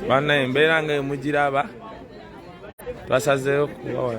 bana embeera nga emugiraba twasazeeyo kubawa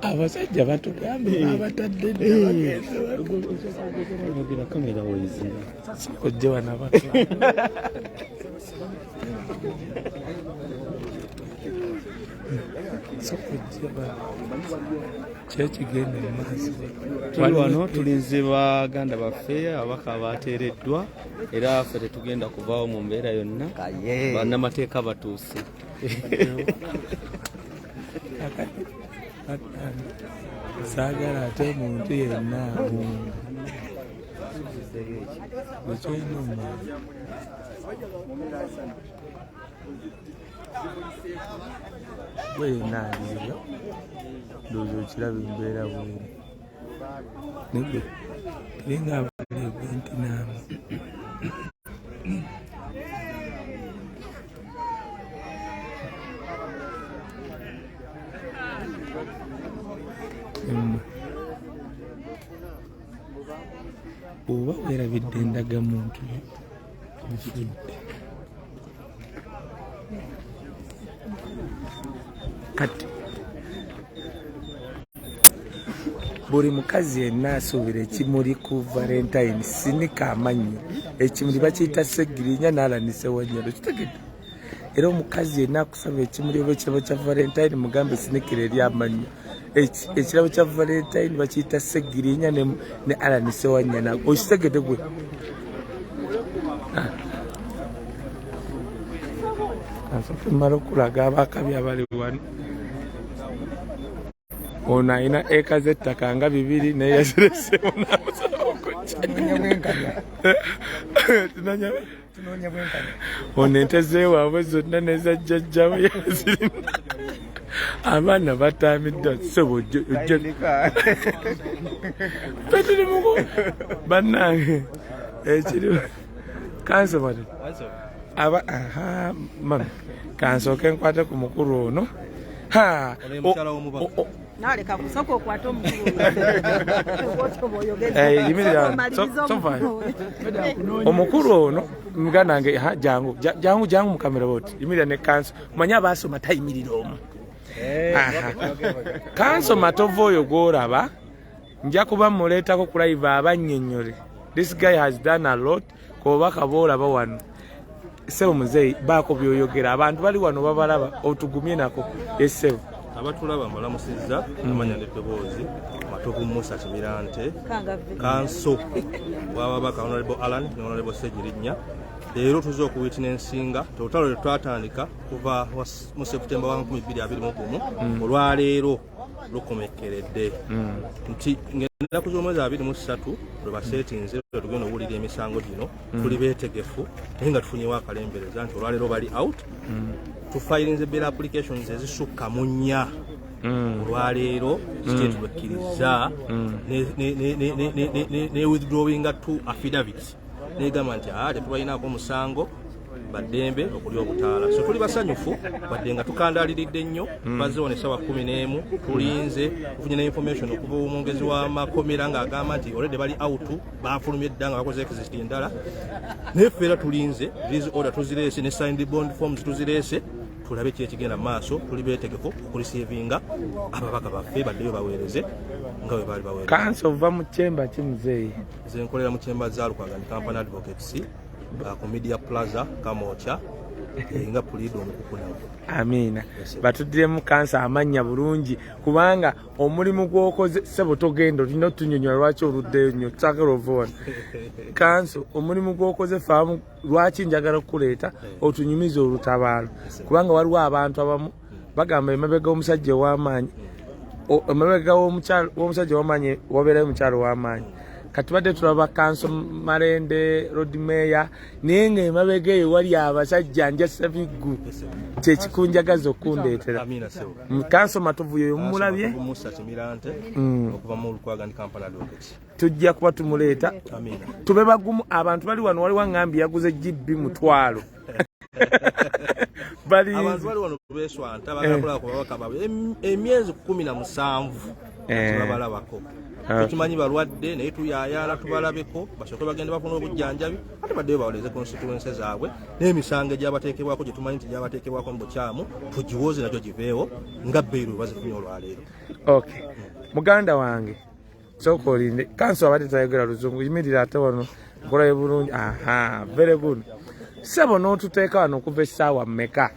abasajja batugambe abatadde ojje wanabatu kyekigenda mumaaso tuli wano tulinze baganda baffe ababaka bateereddwa era ffe tetugenda kuvaawo mu mbeera yonna bannamateeka batuuse saagala ate omuntu yenna wenaaliyo ndowooza okiraba embeera bweri nibwe naye nga abalebwe nti naamu oba werabidde endaga muntu ofudde kati buli mukazi yenna asuubira ekimuli ku valentine sinika amannyo ekimuli bakiyita segirinya naalanise wanyalo kitegedde era omukazi yenna akusaba ekimuli oba ekirabo kya valentine mugambe esinikira eri amannya ekirabo kya valentine bakiyita segirinya ne alani sewanyana okitegede gwe ah. kansooke mala okulaga abaakabi abali wano ono alina eka z'ettaka nga bibiri naye yaziresemu namusala okujjatunanya ono ente zewaabwe zonna neza jjajjawe yazirina abaana batamiddwa sebo fetuli muku bannange ekiriwo kansobole aba aha mami kansooke nkwate ku mukulu ono ha naleka kusooka okwata omukuluomukulu eh, ono muganda nge jangu jangu jangu mukamera boti yimirira ne kanso manya abaasoma tayimirira omu eh, kanso matovu oyo gwolaba nja kuba muleetako ku live abannyonnyole this guy has done a lot ku bubaka boolaba wano ssebo muzeeyi baako byoyogera abantu bali wano babalaba otugumye nako essebo abatulaba mbalamusizza amanya neddoboozi matovu musa kimirante kanso wababaka honorable allan ne honorable segirinnya leero tuze okuwitina ensinga totalo lwetwatandika kuva mu septemba wa 221 mm. olwaleero lukomekkeredde hmm. nti ng'ennaku z'omwezi abiri mu ssatu lwe baseetinze lwe tugenda okuwulira emisango gino hmm. tuli beetegefu naye nga tufunyewo akalembereza nti olwaleero bali out hmm. tufayirinze bela applications ezisukka mu nnya olwaleero zikyetubekkirizza ne withdrawinga two affidavits negamba nti a ah, tetubalinaako omusango baddembe okulya obutaala so tuli basanyufu badde nga tukandaliridde nnyo hmm. bazewo ne sawa kumi n'emu tulinze tufunye ne information okuva omwongezi w'amakomera ng'agamba nti olede bali out bafulumye dda nga bakoze exist endala naye ffe era tulinze these order tuzireese ne signed bond forms tuzireese tulabe kiri ekigenda maaso tuli beetegefu okulisiivinga ababaka baffe baddeyo baweereze nga bwe baali baweereza kanso ova mu kyemba ki muzeeyi nze nkolera mu kyemba za lukwagani company advocates uh, ku media plaza kamokya eh, nga puliida omukukunavu amiina batuddiremu kansa amannya bulungi kubanga omulimu gwokoze sebo togenda olina otunyonyola lwaki oluddeyo nyo tusagala ova wano kansa omulimu gwokoze faamu lwaki njagala okukuleeta eh. otunyumiza olutabaalo kubanga waliwo abantu abamu bagamba emabega omusajja ow'amaanyi emabega w'omusajja ow'amaanyi wabeerayo omukyalo ow'amaanyi kati badde tulaba kanso malende rod meya naye nga emabega eyo wali abasajja njasa biggu kyekikunjagaza okundeetera kanso matuvuyo oyo mumulabye mm. tujja kuba tumuleeta tube bagumu abantu bali wano waliwo ngambye yaguze gb mutwalo bali abantu bali wano beswanta bagakula eh. ku babaka bawe emyezi 17 eh. babalabako ah. tukimanyi balwadde naye tuyayala tubalabeko basooke bagenda bafuna obujjanjabi ate baddeyo bawoleze konsituwense zaabwe n'emisango egyabateekebwako gye tumanyi nti gyabateekebwako mu bukyamu tugiwooze nakyo giveewo nga beiru bazifunye olwaleero muganda wange sooka olinde kanso abadde tayogera luzungu yimirira ate wano nkolayo bulungi aha very good sebo n'otuteeka wano okuva essaawa meka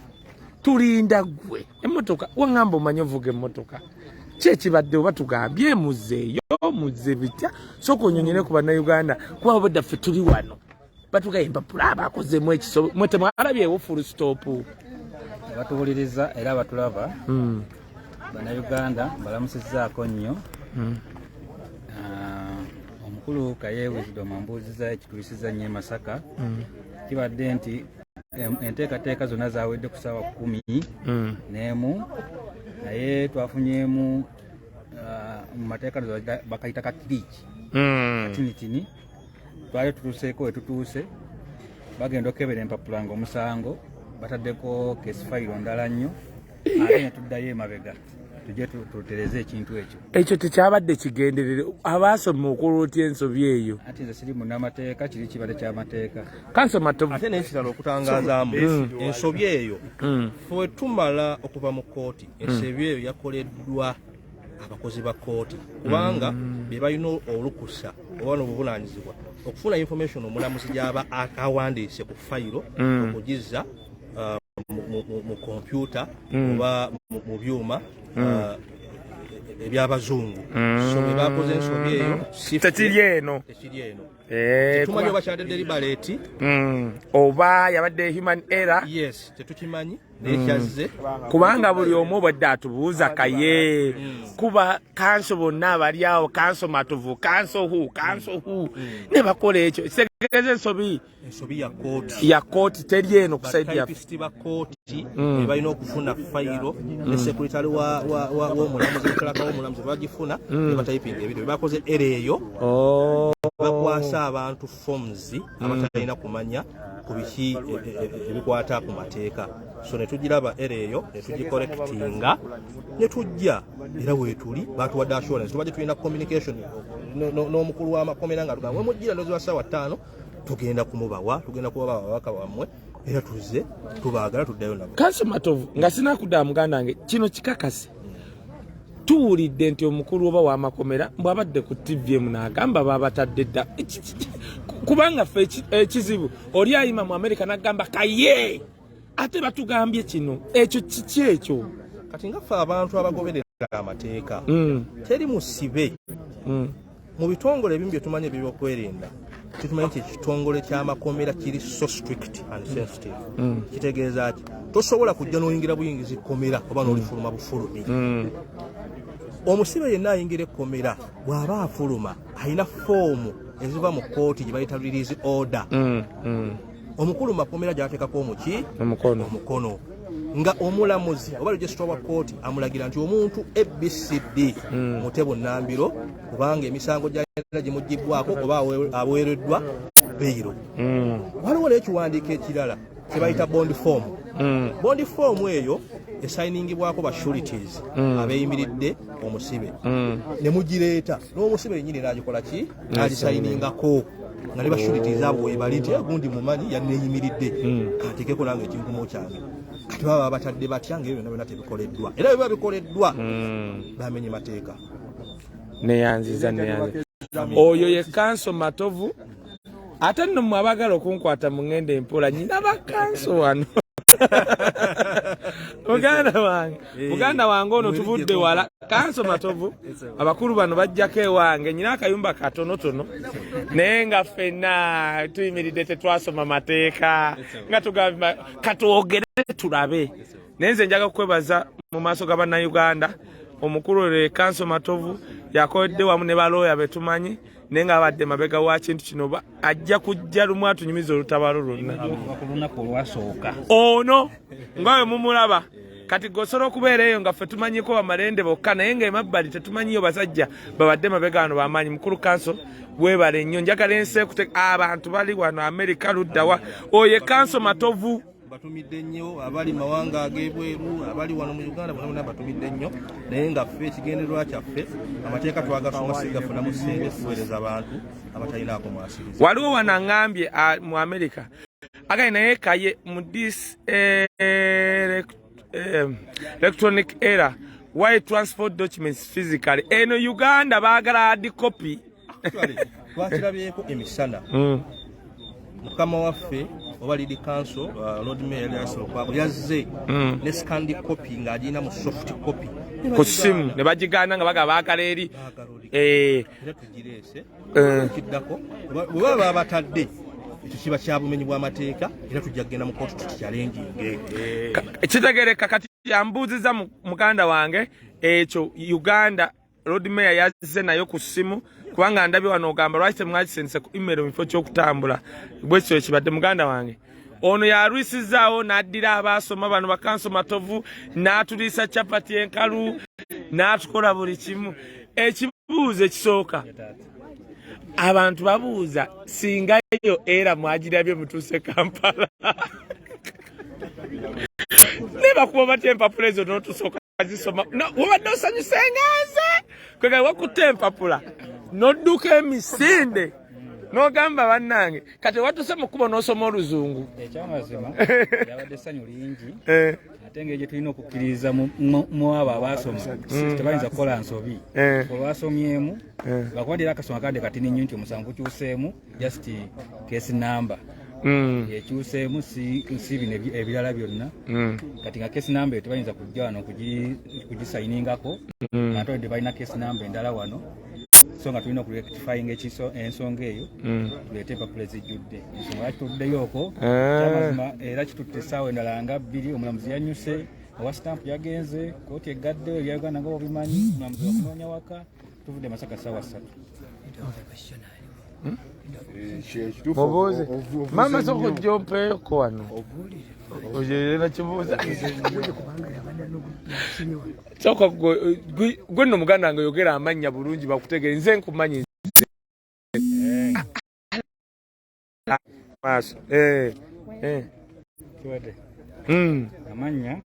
tulinda gwe emmotoka wangamba omanyi ovuga emmotoka kyekibadde oba tugambye muzeeyo muze bitya sooka onyonyere ku bannayuganda kuba obadda ffe tuli wano batugaye empapula abakozemu ekiso mwe temwalabyewo full stop batubuliriza era batulaba hmm. bannayuganda balamusizaako nnyo hmm. ah, omukulu kayewizidwa mambuuziza ekituyisiza nnyo emasaka hmm. kibadde nti enteekateeka zonna zawedde ku saawa kumi n'emu naye twafunyemu ah, mu mateeka bakayita kakiriiki katinitini twali tutuuseeko wetutuuse bagenda okukebera empapula nga omusango bataddeko kesifayiro ndala nnyo ate netuddayo emabega tujje tutereze ekintu ekyo ekyo tekyabadde kigenderere abaasoma okola otya ensobi eyo ati nze siri munamateeka kiri kibadde kyamateeka kansomaate nekirala okutangazaamu hmm. ensobi eyo hmm. fwe tumala okuva mu kooti ensobi eyo yakoleddwa abakozi ba kooti kubanga mm. be balina olukusa oba nobuvunanyizibwa okufuna information omulamuzi gyaba awandiise ku fayiro mm. okugizza uh, mu kompyuta mm. oba mu byuma uh, ebyabazungu so bebakoze ensobi eyo tekiri eno tekiri eno eh, tumanyi oba kyadedde libaleeti oba yabadde human error yes tetukimanyi nekyazze mm. kubanga buli omu obadde atubuuza kaye mm. kuba kanso bonna abali awo kanso matuvu kanso hu kanso hu mm. ne bakola ekyo kitegeza ensobi ya kooti teri eno kusaidyabalina okufuna fayiro ne sekuritale womulamuzi etalaka womulamuzi bagifuna nebatayipinga ebintu bebakoze era eyo oh. bakwasa abantu forms abatalina kumanya ku biki e, e, e, ebikwata ku mateeka so netugiraba era eyo netugikorekitinga netujja era wetuli batuwadde assurance tubadde tulina communication n'omukulu w'amakomera nga tugamba wemujjira ndozi wa ssaawa ttaano tugenda kumubawa tugenda kubawa ababaka bammwe era tuzze tubaagala tuddayo nabo kanso matovu nga sinakudaa muganda wange kino kikakase tuwulidde nti omukulu oba wamakomera mbwabadde ku tvm nagamba babatadde dda kubanga fe ekizibu oli ayima mu amerika nagamba kaye ate batugambye kino ekyo kiki ekyo kati nga fe abantu abagoberera amateeka mm. teri musibe mm. mu bitongole ebimu bye tumanyi ebyokwerinda kitumanyi nti ekitongole ky'amakomera kiri so strict and mm. sensitive mm. kitegeeza ki tosobola kujja n'oyingira buyingiza ekkomera oba n'olifuluma bufulumi mm. omusibe yenna ayingira ekkomera bw'aba afuluma alina foomu eziva mu kkooti gye bayita release order omukulu mu makomera gyateekako omuki omukono omukono nga omulamuzi oba registra wa kooti amulagira nti omuntu abcd mm. mute bunambiro kubanga emisango gyayina gimugibbwako oba aweereddwa beyiro mm. waliwo n'ekiwandiiko ekirala kyebayita bond form mm. bond form eyo esayiningibwako ba shurities mm. abeyimiridde omusibe mm. ne mugireeta n'omusibe yenyini naagikola ki nalisayiningako nga ne bashuritiza abo webali nti gundi mumanyi yaneyimiridde hmm. katekeko nange ekinkumo kyange kati baba babatadde batya nga ebyo byona byona tebikoleddwa era biba bikoleddwa hmm. bamenye mateeka neyanziza neyanziza oyo ye kanso matovu ate nno mwe abagala okunkwata mu ngenda empola nyina bakanso wano muganda wange eh. muganda wange ono tuvudde wala kanso matovu abakulu bano bajjako ewange nyina akayumba katonotono naye nga ffenna tuyimiridde tetwasoma mateeka nga tugamba katwogere tulabe naye nze njaga kukwebaza mu maaso ga bannayuganda omukulu lwe kanso matovu yakoledde wamu ne balooya betumanyi naye nga abadde mabega wa kintu kino ajja kujja lumu atunyumiza olutabaalo lwonna ono nga we mumulaba kati gosobola okubeera eyo nga ffe tumanyiko bamalende bokka naye nga emabbali tetumanyiyo basajja babadde mabega wano bamaanyi mukulu kanso webale nnyo njagala ensi ekute abantu bali wano amerika luddawa oyo ekanso matovu batumidde nnyo abali mawanga ag'ebweru abali wano mu uganda bonabona batumidde nnyo naye nga ffe ekigendererwa kyaffe amateeka twagasoma sigafunamu sente kuweereza abantu abatalinaako mwasiriza waliwo wano aŋambye mu amerika agali naye kaye mu dis eh, eh, electronic era why transport documents physically eno uganda baagala adi copy twakirabyeko emisana hmm. mukama waffe oba lidi kanso uh, lord mayor yasokwabo yazze hmm. ne scandi copy ng'agirina mu soft copy ku simu ne bagigana nga bagaba akala eri eh. eh. kiddako bwebaba babatadde ekyo kiba kya bumenyi bw'amateeka era tujja kugenda mu kootu tukikyalenjinge eh. kitegereka kati yambuuziza muganda wange ekyo uganda Lord Mayor yazze nayo ku simu kubanga ndabi wano ogamba lwaki temwakisense ku email mifo kyokutambula bwekyo ekibadde muganda wange ono yalwisizaawo n'addira abaasoma bano bakanso matovu n'atuliisa capati enkalu n'atukola buli kimu ekibuuzo ekisooka abantu babuuza singa yo era mwagirabye mutuuse kampala nebakuba batya empapula ezo notusooka azisoma wabadde osanyuse nga nze kwegala wakutte empapula nodduka emisinde nogamba bannange kati watuse mu kkubo n'osoma oluzungu ekyamazima yabadde essanyu lingi eh. ate nga egyo tulina okukkiririza mu abo abaasoma mm. tebayinza kukola nsobi eh. olwasomyemu eh. bakuba dira akasoma kade katini nnyo nti omusango kukyuseemu just case number mm. yekyuseemu si bino ebirala byonna mm. kati nga case number tebayinza kujja wano kugisayiningako mm. ate odde balina case number endala wano so nga tulina okurectifying ensonga eyo mm. tuleete empapula ezijjudde ensonga lwaki tutuddeyo okwo eh. kyamazima era kitutte essaawa endala nga bbiri omulamuzi yanyuse owa stamp yagenze kooti eggaddeyo ebya uganda nga obimanyi omulamuzi wakunoonya waka tuvudde masaka sawa satu hmm? eh, mubuuze maama soka ojja ompeeko wano ojerera kibuuza soka gwe nno muganda nga oyogera amannya bulungi bakutegere nze nkumanyi maaso eh, eh. kiwadde hmm. amannya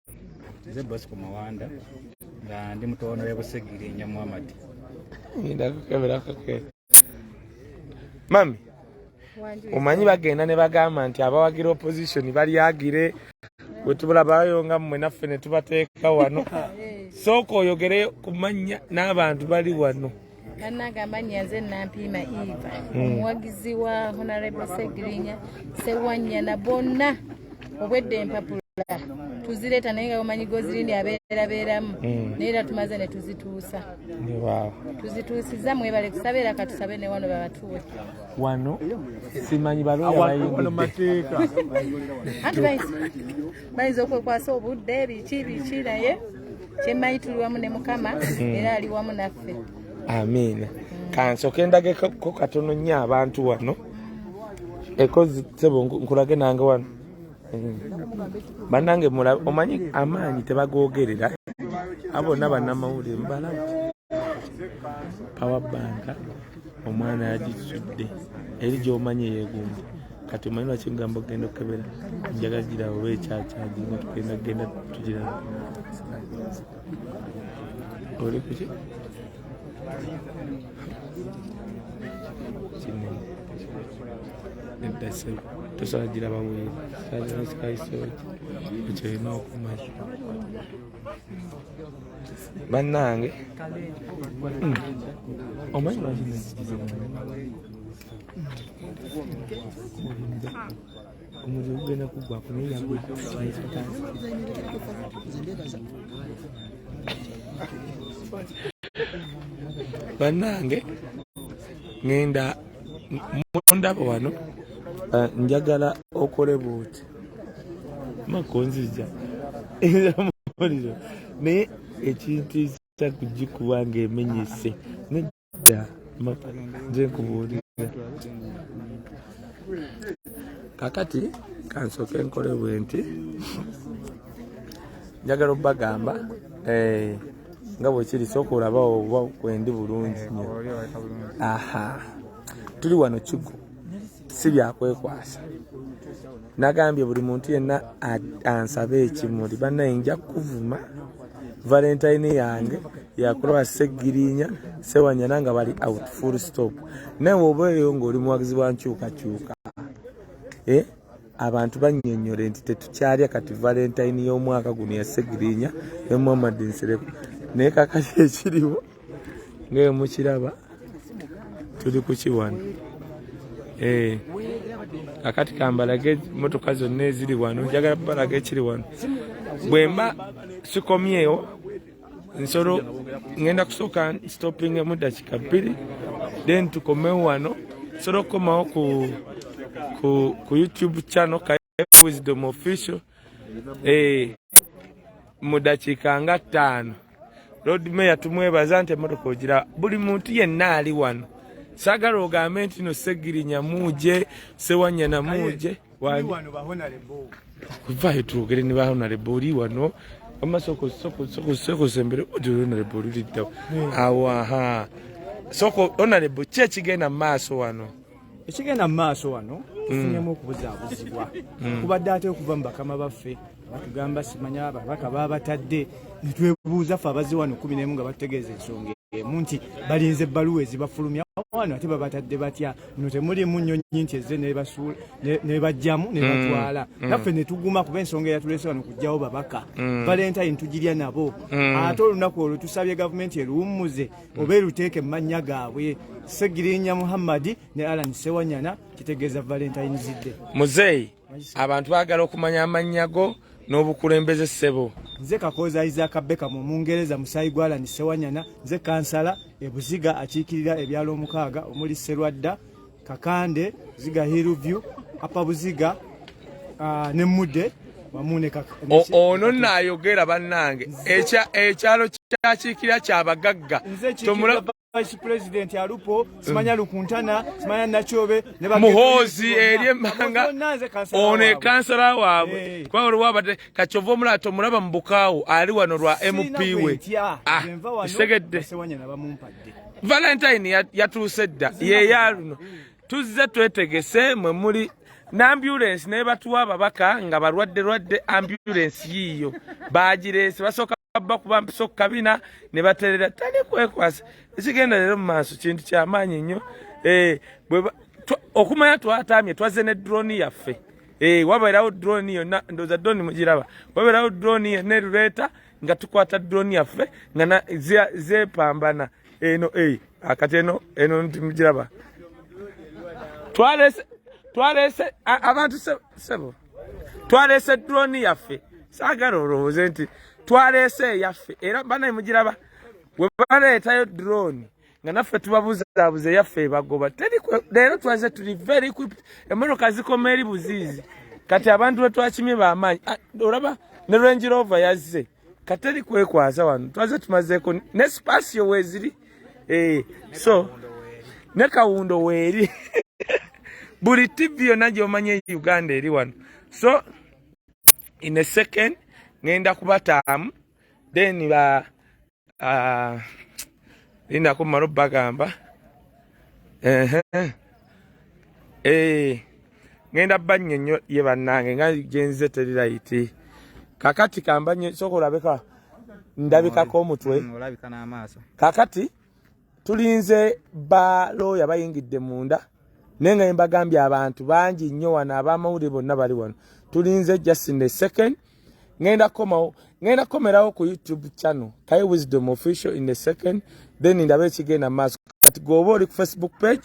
nze bosco mawanda nga ndi mutono webusegiri nyamuhamadi mami omanyi bagenda ne bagamba nti abawagira opposition balyagire wetubulabayo nga mmwe naffe ne tubateeka wano sooka oyogere ku mannya n'abantu bali wano bannange amannya nze nampiima eva hmm. omuwagizi wa honarable segirinya sewanyana bonna obwedda empapula tuzireeta naye nga omanyi gozirindi abeerabeeramu hmm. naye era tumaze ne tuzituusa tuzituusiza mwebale kusaba era katusabe ne wano babatuwe wano simanyi balooya bayingidde bayinza okwekwasa obudde biki biki naye kyemmanyi tuli wamu ne mukama hmm. era ali wamu naffe amiina kansoke ndageko katono nnyo abantu wano ekozi sebo nkulage nange wano hmm. banange omanyi amaanyi tebagogerera abona banamawulire mubalamu power bank omwana yagitudde eri gyomanyi eyegumba kati omanyi lwaki ngamba okugenda okukebera njaga gira oba ekyakyaji nga tugenda kugenda tugira oli kuki kino eddase tosobola giraba weeri kyazimusikaisooki ekyo olina okumanya bannange hmm. omanyi omuliro gugenda kuggwako naye yagwe bannange ngenda mundaba wano eh, njagala okole buuti makonzija muliro naye ekintu ekisa kugikuba nga emenyese nedda nze nkubuulira kakati kansooke nkole bwe nti njagala okubagamba eh, nga bwekiri sooka olabawo oba kwendi bulungi nyo aha tuli wano kigo si byakwekwasa nagambye buli muntu yenna ansabe ekimuli banaye nja kukuvuma valentine yange yakulaba segirinya sewanyana nga bali out full stop naye oba eyo ngaoli muwagizi wa nkyukakyuka eh? abantu banyonyole nti tetukyalya kati valentine y'omwaka guno yasegirinya ne muhammad nsereko naye kakati ekiriwo ngaeyo mukiraba tuli kukiwano eh, akati kambalage motoka zonna eziri wano njagala balaga ekiri wano bwemba sikomyewo nsolo ngenda kusooka stoppingemu dakika bbiri then tukomewo wano nsobola okukomawo ku youtube channel Wisdom Official eh, mu dakiika nga ttaano Lord Mayor tumwebaza nti emmotoka ogira buli muntu yenna ali wano sagala ogambe nti no Ssegirinya muuje Ssewanyana muuje kuvayo twogere ne bahonalebo oli wano wamma sokosokosokosokosombere odi honalebo oli liddawo awaha soko honalebo ki ekigenda mu maaso wano ekigenda mu maaso wano tufunyemu okubuzaabuzibwa mm. kubadde ate okuva mu bakama baffe batugamba simanya babaka babatadde netwebuuza fe abazze wano kumi nemu nga batutegeeza ensonga emu nti balinze ebbaluwa ezibafulumya wano ate babatadde batya no temulimu nyonyi nti ezze nebajjamu nebatwala mm, mm. naffe netuguma kuba ensonga eyatulese wano kujjawo babaka mm. valentine tugirya nabo ate olunaku olwo tusabye gavumenti eruwummuze hmm. oba eruteeke mu mannya gaabwe segirinya muhammadi ne alan sewanyana kitegeeza valentine zidde muzeeyi abantu bagala okumanya amannya go n'obukulembeze ssebo nze kakooza isaaka beka mu mungereza musaayi gwa alan sewanyana nze kansala ebuziga akiikirira ebyalo omukaaga omuli serwadda Kakande, Ziga Hillview, Upper Buziga, uh, ne Mudde wamu ne Kakande. Ono nayogera bannange ekyalo kyakiikira kya bagagga tomulaba vice president alupo simanya mm. lukuntana simanya nachobe ne ba muhozi eriye manga one kansala wabwe hey. Eh. kwa wali wabade kachovo mulato mulaba mbukawo ali wano lwa MP we ah isegedde sewanya na bamumpa valentine yatuuse dda yeya luno tuzze twetegese mwe muli n'ambulensi naye batuwa ababaka nga balwadde lwadde ambulensi yiiyo bagireese basooka bba kuba mpisa okukabina ne baterera tali kwekwasa ekigenda leero mu maaso kintu kyamaanyi nnyo eh, okumanya twataamye twazze ne drooni yaffe eh, wabeerawo drooni yonna ndooza drooni mugiraba wabeerawo drooni yonna eruleeta nga tukwata drone yaffe nga zepambana eno e akati eno eno ntimugiraba twalese twalese abantu sebo twalese drone yaffe saagala olowooze nti twalese eyaffe era banaye mugiraba webaleetayo drone nga naffe tubabuzaabuza eyaffe ebagoba leero twaze tuli very equipped emmotoka zikoma eri buziizi kati abantu betwakimye bamaanyi ah, olaba ne range rover yazze kateri kwekwaza wano twaze tumazeeko ne spasio weziri eh, so ne kawundo weeri buli tv yonna gyomanya e uganda eri wano so in a second ngenda kubataamu then ba Ah, linda kumala obbagamba eh, ngenda bannyo nnyo ye bannange nga genzize teri layiti kakati kambannyo soka olabika ndabikako omutwe mm, kakati tulinze ba looya bayingidde munda naye nga yembagambye abantu bangi nnyo wano abamawulire bonna bali wano tulinze justin the second ngenda komawo ngenda komerawo ku youtube channel kai wisdom official in the second then ndaba ekigenda maaso kati gwoba oli ku facebook page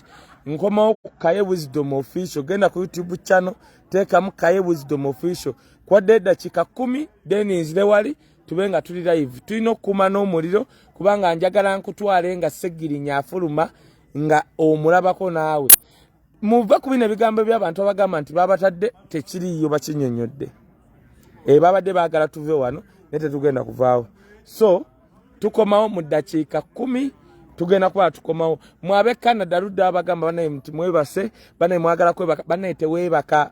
nkomawo ku kaye wisdom official genda ku youtube channel teekamu kaye wisdom official kwadde eddakiika kumi then nzire wali tube nga tuli live tulina okukuuma n'omuliro kubanga njagala nkutwale nga segirinya afuluma nga omulabako naawe muva ku bino ebigambo byabantu abagamba nti babatadde tekiriiyo bakinyonyodde e babadde baagala tuve wano naye tetugenda kuvaawo so tukomawo mu ddakiika kumi tugenda kuba tukomawo mwabe canada ludde abagamba banaye nti mwebase banaye mwagala kwebaka banaye teweebaka